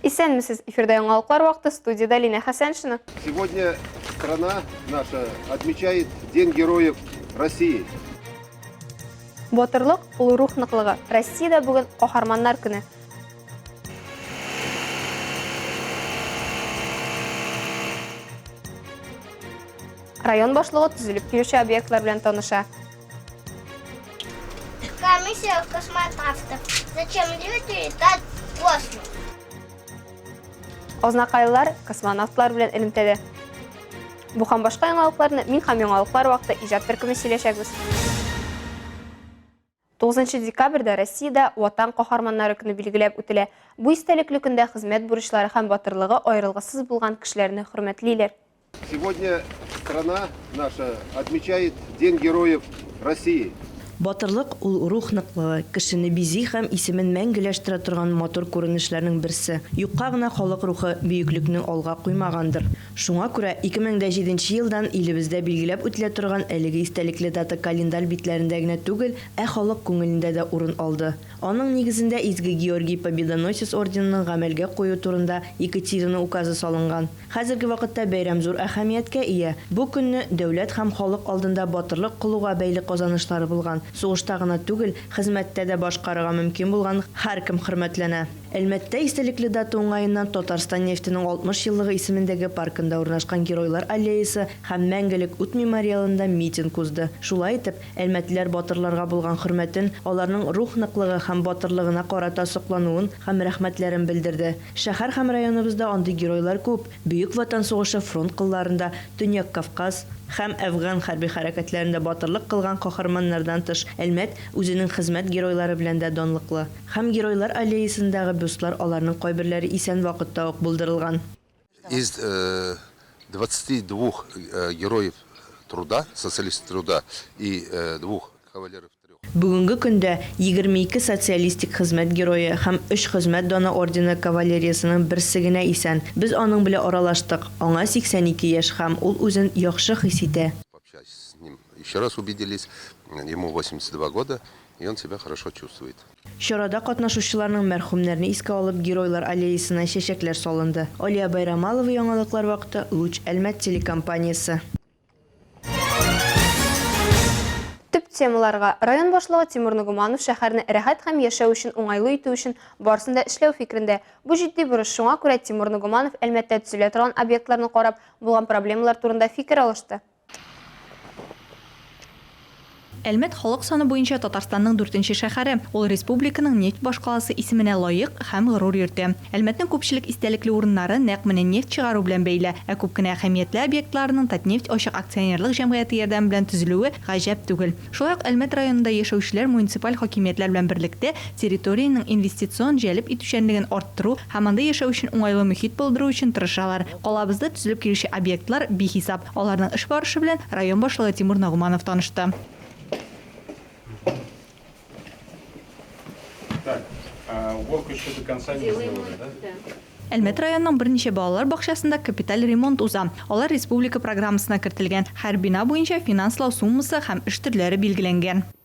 Исәнмесез, эфирда яңалыклар вакыты, студияда Лина Хәсәншина. Сегодня страна наша отмечает День героев России. Батырлык, ул рух ныклыгы. Россиядә бүген каһарманнар көне. Район башлыгы төзелеп килүче объектлар белән таныша. Комиссия космонавтов. Зачем люди летать в космос? Азнакайлылар космонавтлар белән элемтәдә. Бу һәм башка яңалыкларны мин һәм яңалыклар вакыты иҗат төркеме сөйләшәбез. 9 декабрьдә Россиядә Ватан каһарманнары көне билгеләп үтелә. Бу истәлекле көндә хезмәт бурычлары һәм батырлыгы аерылгысыз булган кешеләрне хөрмәтлиләр. Сегодня страна наша отмечает День Героев России. Батырлык, ул рух ныклыгы, кешене бизи һәм исемен мәңгеләштерә торган матур күренешләрнең берсе. Юкка гына халык рухы бөеклекне алга куймагандыр. Шуңа күрә 2007 нче елдан илебездә билгеләп үтелә торган әлеге истәлекле дата календарь битләрендә генә түгел, ә халык күңелендә дә урын алды. Аның нигезендә Изге Георгий Победоносец орденының гамәлгә кую турында Екатерина указы салынган. Хәзерге вакытта бәйрәм зур әһәмияткә ия. Бу көнне дәүләт һәм халык алдында батырлык кылуга бәйле казанышлары булган, сугышта гына түгел, хезмәттә дә башкарырга мөмкин булган һәркем хөрмәтләнә. Әлмәттә истәлекле дата уңаеннан Татарстан нефтенең 60 еллыгы исемендәге паркында урнашкан Геройлар аллеясы һәм Мәңгелек ут мемориалында митинг узды. Шулай итеп, әлмәтлеләр батырларга булган хөрмәтен, аларның рух ныклыгы һәм батырлыгына карата соклануын һәм рәхмәтләрен белдерде. Шәһәр һәм районыбызда андый геройлар күп, Бөек Ватан сугышы фронт кылларында, Төньяк Кавказ, һәм Әфган хәрби хәрәкәтләрендә батырлык кылган каһарманнардан тыш, Әлмәт үзенең хезмәт геройлары белән дә данлыклы. Һәм Геройлар аллеясындагы бюстлар аларның кайберләре исән вакытта ук булдырылган. Из двадцати двух Героев труда, Социалистов труда и двух Кавалеров трех. Бүгенге көндә егерме ике Социалистик Хезмәт Герое һәм өч Хезмәт Даны ордены кавалериясының берсе генә исән. Без аның белә аралаштык. Аңа сиксән ике яшь һәм ул үзен яхшы хис итә. Пообщались с ним, еще раз увиделись, ему восемьдесят два года. и он себя хорошо чувствует. Чарада катнашучыларның мәрхүмнәрне искә алып Геройлар аллеясына чәчәкләр салынды. Алия Байрамалова, яңалыклар вакыты, Луч, Әлмәт телекомпаниясе. Төп темаларга, район башлыгы Тимур Ногуманов шәһәрне рәхәт һәм яшәү өчен уңайлы итү өчен барысын да эшләү фикерендә. Бу җитди бурыч, шуңа күрә Тимур Ногуманов Әлмәттә төзелә торган объектларны карап, булган проблемалар турында фикер алышты. Әлмәт халык саны буенча Татарстанның дүртенче шәһәре. Ул республиканың нефть башкаласы исеменә лаек һәм горур йөртә. Әлмәтнең күпчелек истәлекле урыннары нәкъ менә нефть чыгару белән бәйле. Ә күп кенә әһәмиятле объектларының Татнефть ачык акционерлык җәмгыяте ярдәме белән төзелүе гаҗәп түгел. Шулай ук Әлмәт районында яшәүчеләр муниципаль хакимиятләр белән берлектә территориянең инвестицион җәлеп итүчәнлеген арттыру һәм анда яшәү өчен уңайлы мөхит булдыру өчен тырышалар. Калабызда төзелеп килүче объектлар бихисап. Аларның эш барышы белән район башлыгы Тимур Нагуманов танышты. Әлмәт районының берничә балалар бакчасында капиталь ремонт уза. Алар республика программасына кертелгән. Һәр бина буенча финанслау суммасы һәм эш төрләре билгеләнгән.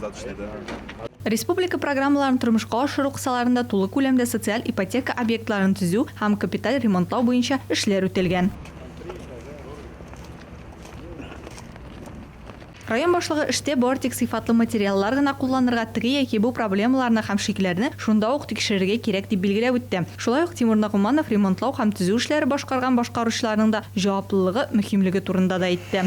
Зат эшли, да. Республика программаларын тормышка ашыру кысаларында тулы күләмдә социаль ипотека объектларын төзү һәм капиталь ремонтлау буенча эшләр үтәлгән. Район башлыгы эштә бары тик сыйфатлы материаллар гына кулланырга, теге яки бу проблемаларны һәм шикләрне шунда ук тикшерергә кирәк, дип билгеләп үтте. Шулай ук Тимур Нагуманов ремонтлау һәм төзү эшләре башкарган башкаручыларның да җаваплылыгы, мөһимлеге турында да әйтте.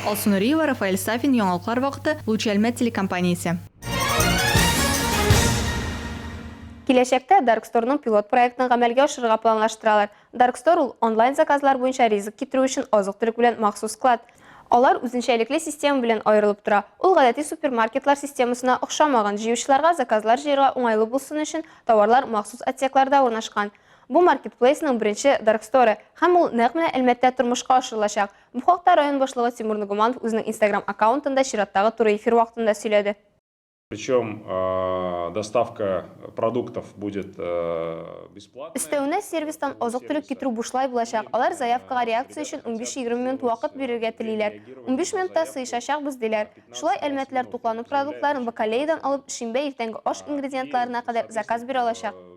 Алсу Нуриева, Рафаэль Сафин, Яңалыклар вакыты, Луч Әлмәт телекомпаниясе. Киләчәктә Дарксторның пилот проектын гамәлгә ашырырга планлаштыралар. Даркстор ул, онлайн заказлар буенча ризык китерү өчен азык-төлек белән махсус склад. Алар үзенчәлекле система белән аерылып тора. Ул гадәти супермаркетлар системасына охшамаган, җыючыларга заказлар җыярга уңайлы булсын өчен, товарлар махсус отсекларда урнашкан. Бу маркетплейсның беренче дарксторы һәм ул нәкъ менә Әлмәттә тормышка ашырылачак. Бу хакта район башлыгы Тимур Нугуманов үзенең Instagram аккаунтында чираттагы туры эфир вакытында сөйләде. Причем доставка продуктов будет бесплатная. Өстәвенә, сервистан азык-төлек китерү бушлай булачак. Алар заявкага реакция өчен унбиш-егерме минут вакыт бирергә телиләр. Унбиш минутта сыешачакбыз, диләр. Шулай әлмәтлеләр туклану продуктларын бакалеядан алып, шимбә иртәнге аш ингредиентларына кадәр заказ бирә алачак.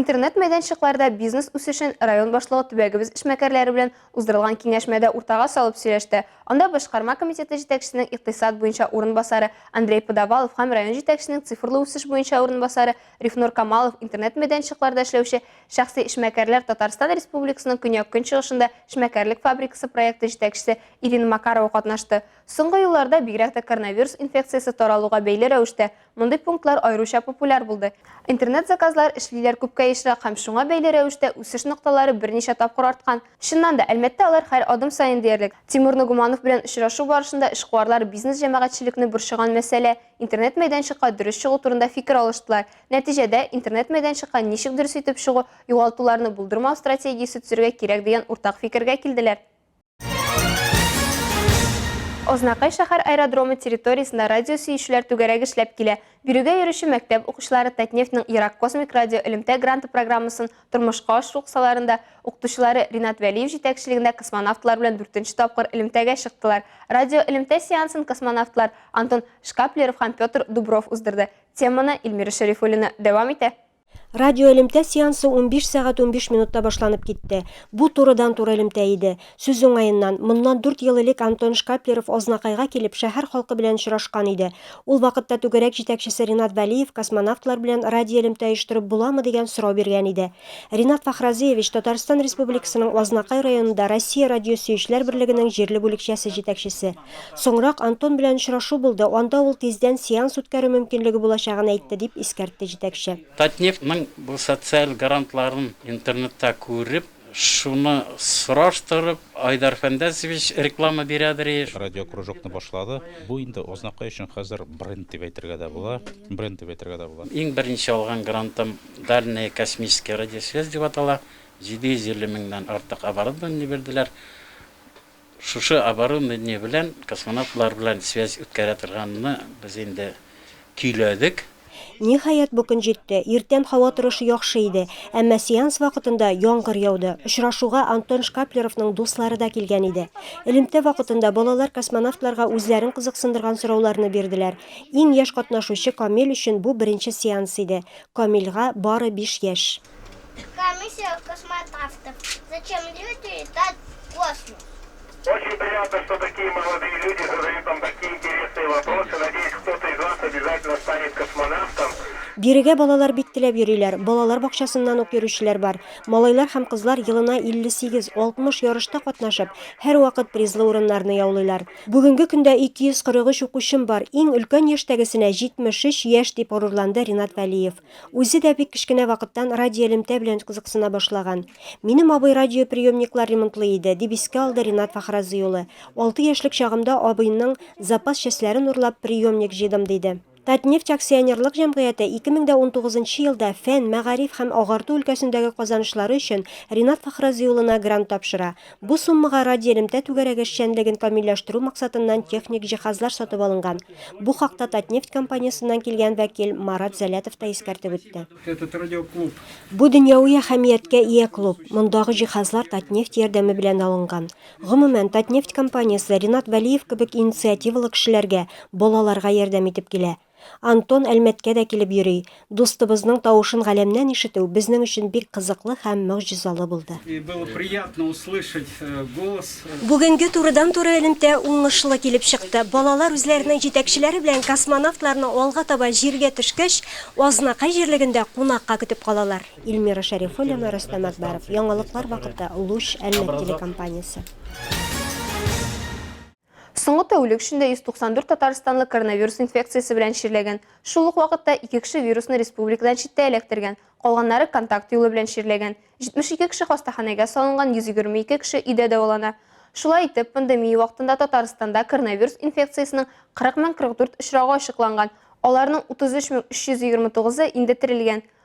Интернет мәйданчыкларда бизнес үсешен район башлыгы төбәгебез эшмәкәрләре белән уздырылган киңәшмәдә уртага салып сөйләште. Анда башкарма комитеты җитәкчесенең икътисад буенча урынбасары Андрей Подавалов һәм район җитәкчесенең цифрлы үсеш буенча урынбасары Рифнур Камалов интернет мәйданчыкларда эшләүче шәхси эшмәкәрләр Татарстан Республикасының көньяк-көнчыгышында эшмәкәрлек фабрикасы проекты җитәкчесе Ирина Макарова катнашты. Соңгы елларда, бигрәк тә коронавирус инфекциясе таралуга бәйле рәвештә, Мондый пунктлар аеруча популяр булды. Интернет-заказлар эшлиләр күпкә ешрак һәм шуңа бәйле рәвештә үсеш нокталары берничә тапкыр арткан. Чыннан да, Әлмәттә алар һәр адым саен диярлек. Тимур Ногуманов белән очрашу барышында эшкуарлар бизнес-җәмәгатьчелекне борчыган мәсьәлә, интернет-мәйданчыкка дөрес чыгу турында фикер алыштылар. Нәтиҗәдә, интернет-мәйданчыкка ничек дөрес итеп чыгу, югалтуларны булдырмау стратегиясе төзергә кирәк дигән уртак фикергә килделәр. Азнакай шәһәр аэродромы территориясендә радиосөючеләр түгәрәге эшләп килә. Бирегә йөрүче мәктәп укучылары Татнефтьнең Ерак космик радио элемтә гранты программасын тормышка ашыру кысаларында укытучылары Ринат Вәлиев җитәкчелегендә космонавтлар белән дүртенче тапкыр элемтәгә чыктылар. Радиоэлемтә сеансын космонавтлар Антон Шкаплеров һәм Петр Дубров уздырды. Теманы Эльмира Шәрифуллина дәвам итә. Радио элемтә сеансы 15 сәгать 15 минутта башланып китте. Бу турыдан-туры элемтә иде. Сүз уңаеннан, моннан дүрт ел элек Антон Шкаплеров Азнакайга килеп, шәһәр халкы белән очрашкан иде. Ул вакытта түгәрәк җитәкчесе Ринат Вәлиев космонавтлар белән радиоэлемтә оештырып буламы дигән сорау биргән иде. Ринат Фахразыевич, Татарстан Республикасының Азнакай районында Россия радиосөючеләр берлегенең җирле бүлекчәсе җитәкчесе. Соңрак Антон белән очрашу булды, анда ул тиздән сеанс үткәрү мөмкинлеге булачагын әйтте, дип искәртте җитәкче. Татнефтьнең бу социаль грантларын интернетта күреп, шуны сораштырып, Айдар Фәндәсович реклама бирәдер еш. Радиокружокны башлады. Бу инде Азнакай өчен хәзер бренд дип әйтергә дә була. Бренд дип әйтергә дә була. Иң беренче алган грантым Дальняя космическая радиосвязь дип атала. 750 меңнән артык оборудование бирделәр. Шушы оборудование белән космонавтлар белән связь үткәрә торганны без инде көйләдек. Ниһаять, бу көн җитте. Иртән һава торышы яхшы иде. Әмма сеанс вакытында яңгыр яуды. Очрашуга Антон Шкаплеровның дуслары да килгән иде. Элемтә вакытында балалар космонавтларга үзләрен кызыксындырган сорауларны бирделәр. Иң яшь катнашучы Камил өчен бу беренче сеанс иде. Камилгә бары биш яшь. Комиссия космонавтов. Зачем люди летают в космос? Очень приятно, что такие молодые люди задают нам такие интересные вопросы. Надеюсь, кто-то из вас обязательно станет космонавтом. Бирегә балалар бик теләп йөриләр. Балалар бакчасыннан ук йөрүчеләр бар. Малайлар һәм кызлар елына 58-60 ярышта катнашып, һәрвакыт призлы урыннарны яулыйлар. Бүгенге көндә 243 укучым бар. Иң өлкән яшьтәгесенә 73 яшь, дип горурланды Ринат Вәлиев. Үзе дә бик кечкенә вакыттан радиоэлемтә белән кызыксына башлаган. Минем абый радиоприемниклар ремонтлый иде, дип искә алды Ринат Фахразый улы. Алты яшьлек чагымда абыйның запас частьләрен урлап, приемник җыйдым, диде. Татнефть акционерлык җәмгыяте 2019 нчы елда фән, мәгариф һәм агарту өлкәсендәге казанышлары өчен Ринат Фахразый улына грант тапшыра. Бу суммага радиоэлемтә түгәрәге эшчәнлеген камилләштерү максатыннан техник җиһазлар сатып алынган. Бу хакта Татнефть компаниясеннән килгән вәкил Марат Зәлятов та искәртеп үтте. Бу дөньяви әһәмияткә ия клуб, мондагы җиһазлар Татнефть ярдәме белән алынган. Гомумән, Татнефть компаниясе Ринат Вәлиев кебек инициативалы кешеләргә, балаларга ярдәм итеп килә. Антон Әлмәткә дә килеп йөри. Дустыбызның тавышын галәмнән ишетү безнең өчен бик кызыклы һәм могҗизалы булды. Бүгенге турыдан-туры элемтә уңышлы килеп чыкты. Балалар үзләренең җитәкчеләре белән космонавтларны алга таба Җиргә төшкәч, Азнакай җирлегендә кунакка көтеп калалар. Ильмира Шәрифуллина, Рөстәм Әкбәров. Яңалыклар вакыты, Луч, Әлмәт телекомпаниясе. Соңгы тәүлек эчендә 194 татарстанлы коронавирус инфекциясе белән чирләгән. Шул ук вакытта ике кеше вирусны республикадан читтә эләктергән, калганнары контакт юлы белән чирләгән. 72 кеше хастаханәгә салынган, 122 кеше өйдә дәвалана. Шулай итеп, пандемия вакытында Татарстанда коронавирус инфекциясенең 40 мең 44 очрагы ачыкланган, аларның 33 мең 329-ы инде терелгән.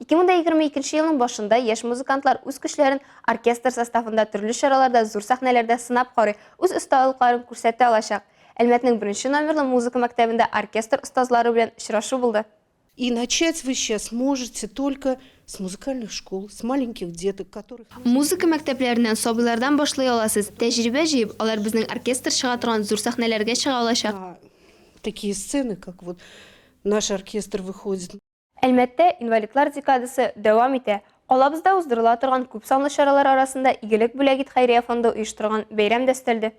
2022 елның башында яшь музыкантлар үз көчләрен оркестр составында төрле чараларда, зур сәхнәләрдә сынап карый, үз осталыкларын күрсәтә алачак. Әлмәтнең беренче номерлы музыка мәктәбендә оркестр остазлары белән очрашу булды. И начать вы сейчас можете только с музыкальных школ, с маленьких деток, которых нужно... Музыка мәктәпләреннән, сабыйлардан башлый аласыз. Тәҗрибә җыеп, алар безнең оркестр чыга торган зур сәхнәләргә чыга алачак. На такие сцены, как вот наш оркестр выходит. Әлмәттә инвалидлар декадасы дәвам итә. Калабызда уздырыла торган күпсанлы чаралар арасында Игелек бүләк ит хәйрия фонды оештырган бәйрәм дә өстәлде.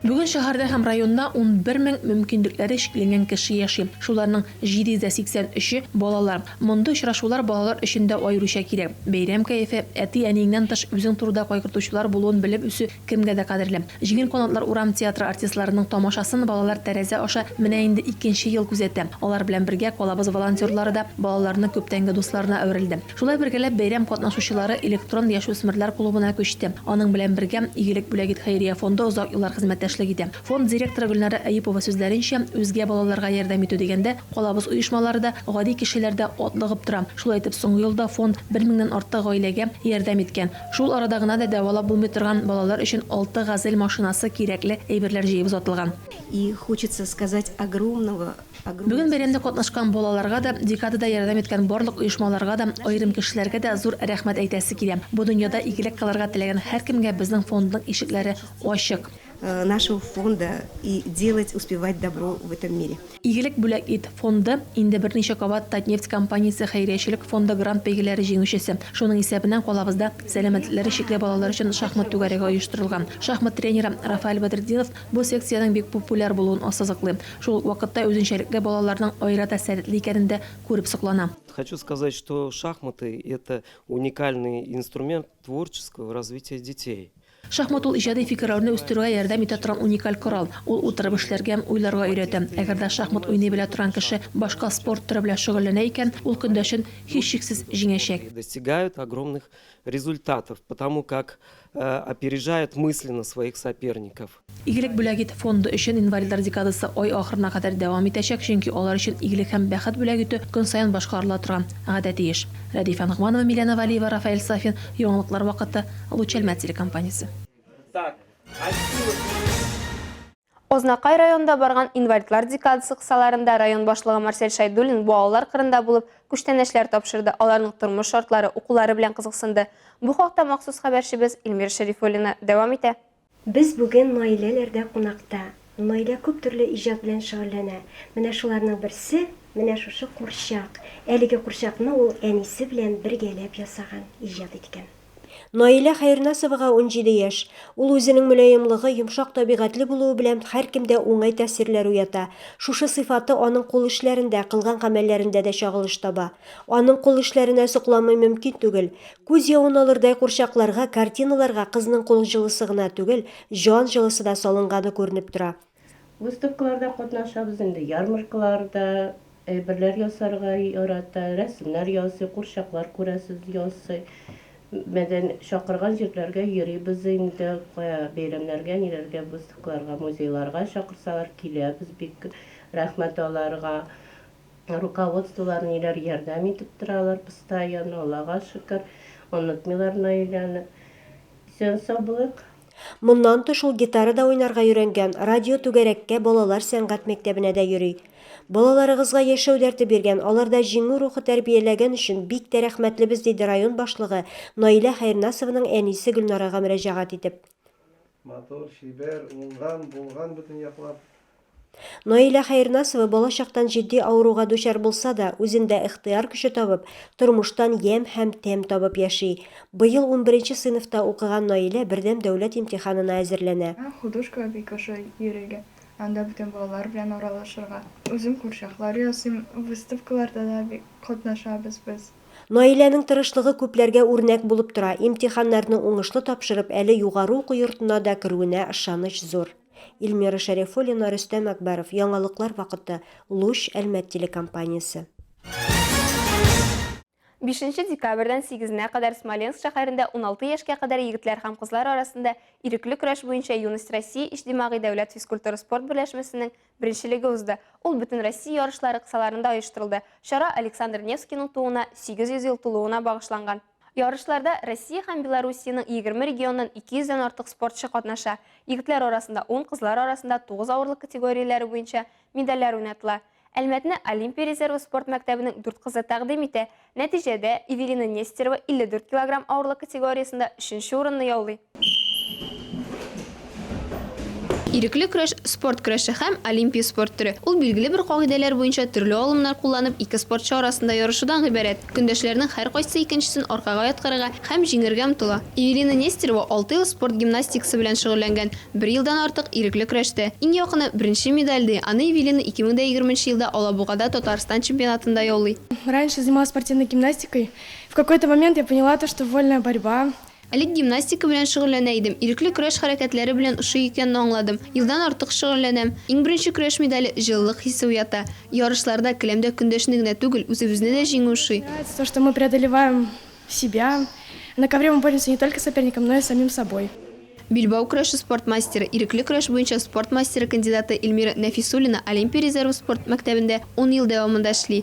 Бүген шәһәрдә һәм районда унбер мең мөмкинлекләре чикләнгән кеше яши. Шуларның 783 е, балалар. Мондый очрашулар балалар өчен дә аеруча кирәк. Бәйрәм кәефе, әти-әниеңнән тыш үзең турыда кайгыртучылар булуын белеп үсү кемгә дә кадерле. Җиңел канатлар урам театры артистларының тамашасын балалар тәрәзә аша менә инде икенче ел күзәтә. Алар белән бергә Калабыз волонтерлары да балаларның күптәнге дусларына әверелде. Шулай бергәләп бәйрәм катнашучылары Электрон яшүсмерләр клубына күчте. Аның белән бергә Игелек бүләгит хәйрия фонды озак еллар хезмәттәшлек итә. Фонд директоры Гөлнара Әюпова сүзләренчә, үзгә балаларга ярдәм итү дигәндә, калабыз оешмалары да, гади кешеләр дә атлыгып тора. Шулай итеп, соңгы елда фонд бер меңнән артык гаиләгә ярдәм иткән. Шул арада гына да дәвалап булмый торган балалар өчен алты Газель машинасы кирәкле әйберләр җыеп озатылган. И хочется сказать огромного, огромное Бүген бәйрәмдә катнашкан балаларга да, декадада ярдәм иткән барлык оешмаларга да, аерым кешеләргә дә зур рәхмәт әйтәсе килә. Бу дөньяда игелек кылырга теләгән һәркемгә безнең фондның ишекләре ачык. Нашего фонда и делать, успевать добро в этом мире. Игелек бүләк ит! фонды, инде берничә кабат Татнефть компаниясе хәйриячелек фонды грант бәйгеләре җиңүчесе. Шуның исәбенә калабызда сәламәтлекләре чикле балалар өчен шахмат түгәрәге оештырылган. Шахмат тренеры Рафаэль Бәдретдинов бу секциянең бик популяр булуын ассызыклый. Шул ук вакытта үзенчәлекле балаларның аерата сәләтле икәнен дә күреп соклана. Хочу сказать, что шахматы это уникальный инструмент творческого развития детей. Шахмат ул иҗади фикеррәүне үстерүгә ярдәм итә торган уникаль корал. Ул утырып эшләргә, уйларга өйрәтә. Әгәр дә шахмат уйный белә торган кеше башка спорт төре белән шөгыльләнә икән, ул көндәшен, һичшиксез, җиңәчәк. достигают огромных результатов, потому как опережают мысленно своих соперников. Игелек бүләк ит! фонды өчен инвалидлар декадасы ай ахырына кадәр дәвам итәчәк, чөнки алар өчен игелек һәм бәхет бүләк итү көн саен башкарыла торган гадәти эш. Рәдифә Ногманова, Миләнә Вәлиева, Рафаэль Сафин, Яңалыклар вакыты, Лучәлмә телекомпаниясе. Азнакай районында барган инвалидлар декадасы кысаларында район башлыгы Марсель Шәйдуллин балалар кырында булып, күчтәнәчләр тапшырды, аларның тормыш шартлары, укулары белән кызыксынды. Бу хакта махсус хәбәрчебез Илмира Шәрифуллина дәвам итә. Без бүген Наиләләрдә кунакта. Наилә күп төрле иҗат белән шөгыльләнә. Менә шуларның берсе, менә шушы курчак. Әлеге курчакны ул әнисе белән бергәләп ясаган, иҗат иткән. Наилә Хәернасовага унҗиде яшь. Ул үзенең мөлаемлыгы, йомшак табигатьле булуы белән һәркемдә уңай тәэсирләр уята. Шушы сыйфаты аның кул эшләрендә, кылган гамәлләрендә дә чагылыш таба. Аның кул эшләренә сокламый мөмкин түгел. Күз явын алырдай курчакларга, картиналарга кызның кул җылысы гына түгел, җан җылысы да салынганы күренеп тора. Выставкаларда катнашабыз инде, ярмаркаларда әйберләр ясарга ярата, рәсемнәр ясый, курчаклар күрәсез ясый. Мәдән, чакырган җирләргә йөрибез инде, кая бәйрәмнәргә, ниләргә, выставкаларга, музейларга чакырсалар, киләбез бик, рәхмәт аларга. Ә руководстволар ниләр ярдәм итеп торалар постоянно, Аллага шөкер, онытмыйлар Наиләне. Исән-сау булыйк. Моннан тыш ул гитара да уйнарга өйрәнгән, радио түгәрәккә, балалар сәнгать мәктәбенә дә йөри. Балаларыгызга яшәү дәрте биргән, аларда җиңү рухы тәрбияләгән өчен бик тә рәхмәтлебез, диде район башлыгы, Наилә Хәернасованың әнисе Гөлнарага мөрәҗәгать итеп. Матур, чибәр, уңган, булган бөтен яклап. Наилә Хәернасова балачактан җитди авыруга дучар булса да, үзендә ихтыяр көче табып, тормыштан ямь һәм тәм табып яши. Быел унберенче сыйныфта укыган Наилә бердәм дәүләт имтиханына әзерләнә. Миңа художкага бик ошый йөрергә, анда бүтән балалар белән аралашырга. Үзем курчаклар ясыйм, выставкаларда да бик катнашабыз без. Наиләнең тырышлыгы күпләргә үрнәк булып тора, имтиханнарны уңышлы тапшырып, әле югары уку йортына да керүенә ышаныч зур. Ильмира Шәрифуллина, Рөстәм Әкбәров, яңалыклар вакыты, Луч, Әлмәт телекомпаниясе. Бишенче декабрьдән сигезенә кадәр Смоленск шәһәрендә уналты яшькә кадәр егетләр һәм кызлар арасында ирекле көрәш буенча Юность России иҗтимагый дәүләт физкультура-спорт берләшмәсенең беренчелеге узды. Ул Бөтенроссия ярышлары кысаларында оештырылды. Чара Александр Невскийның тууына 800 ел тулуына багышланган. Ярышларда Россия һәм Белоруссиянең егерме регионнан ике йөздән артык спортчы катнаша. Егетләр арасында ун, кызлар арасында тугыз авырлык категорияләре буенча медальләр уйнатыла. Әлмәтне Олимпия резервы спорт мәктәбенең дүрт кызы тәкъдим итә. Нәтиҗәдә, Эвелина Нестерова илле дүрт килограмм авырлык категориясендә өченче урынны яулый. Ирекле көрәш, спорт көрәше һәм олимпия спорт төре. Ул билгеле бер кагыйдәләр буенча төрле алымнар кулланып ике спортчы арасында ярышудан гыйбарәт. Көндәшләрнең һәркайсы икенчесен аркага яткырырга һәм җиңәргә омтыла. Евелина Нестерова алты ел спорт гимнастикасы белән шөгыльләнгән, бер елдан артык ирекле көрәштә. Иң якыны, беренче медаль, ди, аны Евелина 2020 елда Алабугада Татарстан чемпионатында яулый. Раньше занималась спортивной гимнастикой, в какой-то момент я поняла то, что вольная борьба. Элек гимнастика белән шөгыльләнә идем, ирекле көрәш хәрәкәтләре белән ошый икәнне аңладым. Елдан артык шөгыльләнәм. Иң беренче көрәш медале, җылылык хисе уята. Ярышларда, келәмдә көндәшне генә түгел, үзебезне дә җиңү ошый. Нравится то, что мы преодолеваем себя. На ковре мы боремся не только с соперником, но и с самим собой. Билбау көрәше спорт мастеры, ирекле көрәш буенча спорт мастеры кандидаты Эльмира Нәфисуллина Олимпия резервы спорт мәктәбендә ун ел дәвамында эшли.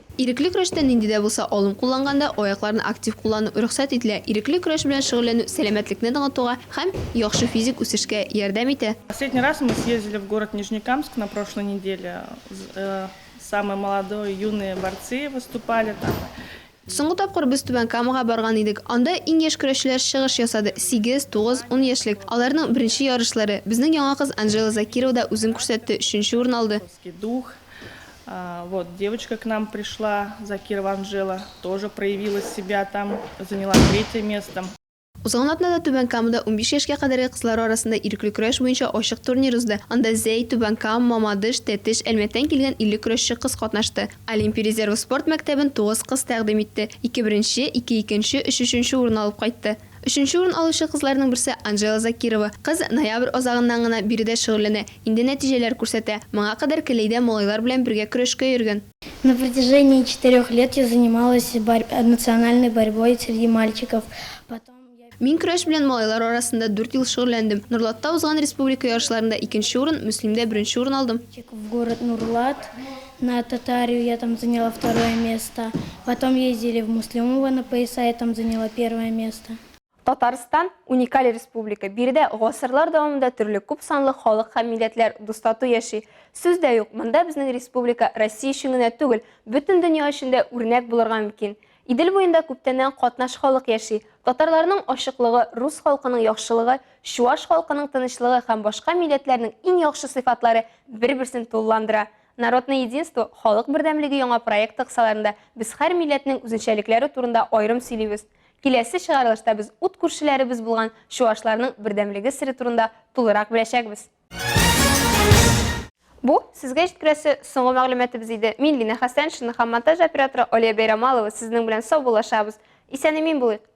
Ирекле көрәштә нинди дә булса алым кулланганда, аякларны актив куллану рөхсәт ителә. Ирекле көрәш белән шөгыльләнү сәламәтлекне ныгытуга һәм яхшы физик үсешкә ярдәм итә. Последний раз мы съездили в город Нижнекамск на прошлой неделе, самые молодой, юные борцы выступали там. Соңгы тапкыр без Түбән Камага барган идек. Анда иң яшь көрәшчеләр чыгыш ясады, сигез, тугыз, ун яшьлек. Аларның беренче ярышлары. Безнең яңа кыз Анжела Закирова да үзен күрсәтте, өченче урын алды. Дух, Вот, девочка к нам пришла, Закирова Анжела, тоже проявила себя там, заняла третье место. Узган атнада Түбән Камада 15 яшькә кадәрге кызлар арасында ирекле көрәш буенча ачык турнир узды. Анда Зәй, Түбән Кам, Мамадыш, Тәтеш, Әлмәттән килгән 50 көрәшче кыз катнашты. Олимпия резервы спорт мәктәбен тугыз кыз тәкъдим итте. Ике беренче, ике икенче, өч өченче урын алып кайтты. Өченче урын алучы кызларның берсе Анжела Закирова. Кыз ноябрь азагыннан гына биредә шөгыльләнә, инде нәтиҗәләр күрсәтә. Моңа кадәр Келәйдә малайлар белән бергә көрәшкә йөргән. На протяжении четырех лет я занималась национальной борьбой среди мальчиков, потом я. Мин көрәш белән малайлар арасында дүрт ел шөгыльләндем. Норлатта узган республика ярышларында икенче урын, Мөслимдә беренче урын алдым. В город Нурлат. На Татарию я там заняла второе место. Потом ездили в Муслимово на пояса, я там заняла первое место. Татарстан, уникаль республика. Биредә гасырлар дәвамында төрле күп санлы халык һәм милләтләр дустату яши. Сүз дә юк, монда безнең республика Россия өчен генә түгел, бөтен дөнья өчен дә үрнәк булырга мөмкин. Идел буенда күптәннән катнаш халык яши. Татарларның ачыклыгы, рус халкының яхшылыгы, чуаш халкының тынычлыгы һәм башка милләтләрнең иң яхшы сыйфатлары бер-берсен тулыландыра. Народное единство Халык бердәмлеге яңа проекты кысаларында без һәр милләтнең үзенчәлекләре турында аерым сөйлибез. Киләсе чыгарылышта без ут күршеләребез булган чуашларның бердәмлеге сере турында тулырак беләчәкбез. Бу, сезгә җиткерәсе соңгы мәгълүматыбыз иде. Мин Лина Хәсәншина һәм монтаж операторы Алия Бәйрамалова сезнең белән саубуллашабыз. Исән-имин булыйк!